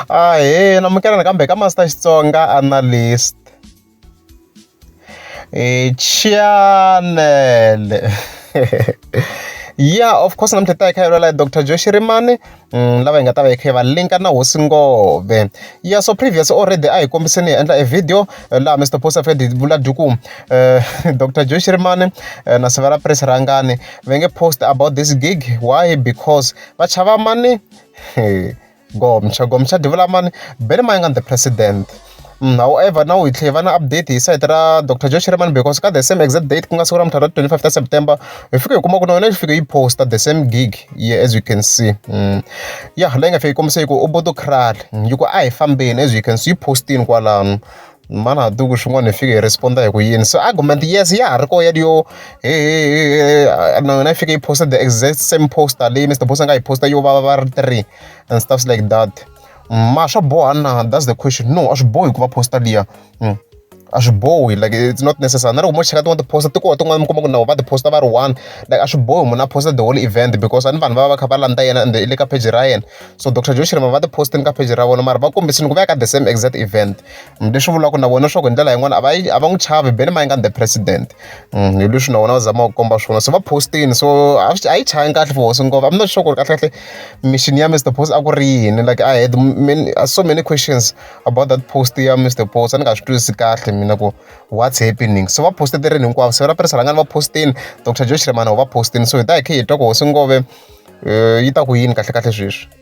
Ahee amukela nakambe ka Master Xitsonga Analyst channel ya of course namuntlha ta hi kha yolala Dr Joe Shirimani mm, lava hi nga ta va hi kha va linka na hosi ngove ya so previous already a hi kombiseni hi endla e video eh, laha Mr Posa Fed vula duku uh, eh, Dr Joe Shirimani uh, eh, na Severa Press Rangani va nge post about this gig why because va chava mani Gomsha Gomsha Divhulamani Ben Mayengani the president however now hi tlhela hi va na update hi sayiti ra Doctor Joe Shirimani because ka the same exact date ku nga siku ra mundzuku ra twenty five ta September hi fike hi kuma ku na yona yi fike yi post-a the same gig yeah as you can see ya leyi nga fika yi kombisa yi ku Ubuntu Krale yi ku a hi fambeni as you can see yi post-ini kwalano. mana duku swin'wana hi fike hi respond hi ku yini so argument yes ya ha ri koho ya yo na yona yi fike yi posta the exact same poster leyi Mister Boss a nga yi posta yo va va ri three and stuffs like that ma swa boha na that's the question no a swi bohi ku va posta liya mm. a swi bohi like it's not necessary na loko mo cheka tin'wana tiposta ti koho tin'wana mi kuma ku nawu va tiposta va ri one like a swi bohi munhu a posta the whole event because a ni vanhu va va va kha va landza yena ende i le ka page ra yena so dr joshirima va tipostini ka page ra vona mara va kombisini ku va ya ka the same exact event Leswi vulaka na vona leswaku hi ndlela yin'wani a va yi a va n'wi chavi beli ma yi nga ni the president hi leswi na vona va zamaka ku komba swona se va post-ini so a swi a yi chavi kahle for hosi ngopfu I'm not sure ku ri kahlekahle mission ya Mister Boss a ku ri yini like I had many so many questions about that post ya Mister Boss a ni nga swi twisisi kahle mina ku what's happening so va post-e tirheni hinkwavo siku ra press rhanga ni va post-ini Doctor Joe Shirimani u va post-ini so hi ta hi kha hi twa ku hosi Ngove yi ta ku yini kahlekahle sweswi.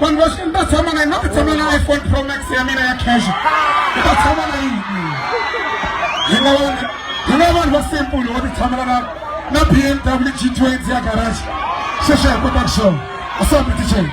vanhu va swi ni ta tshama na yini va tshama na iphone pro max ya mina ya cash ni ta tshama na yini hi nga vanhu hi nga vanhu va simple va titshamela na na b m w g twenty ya garage sweswi hi kota ku xona a swi hambi ticheni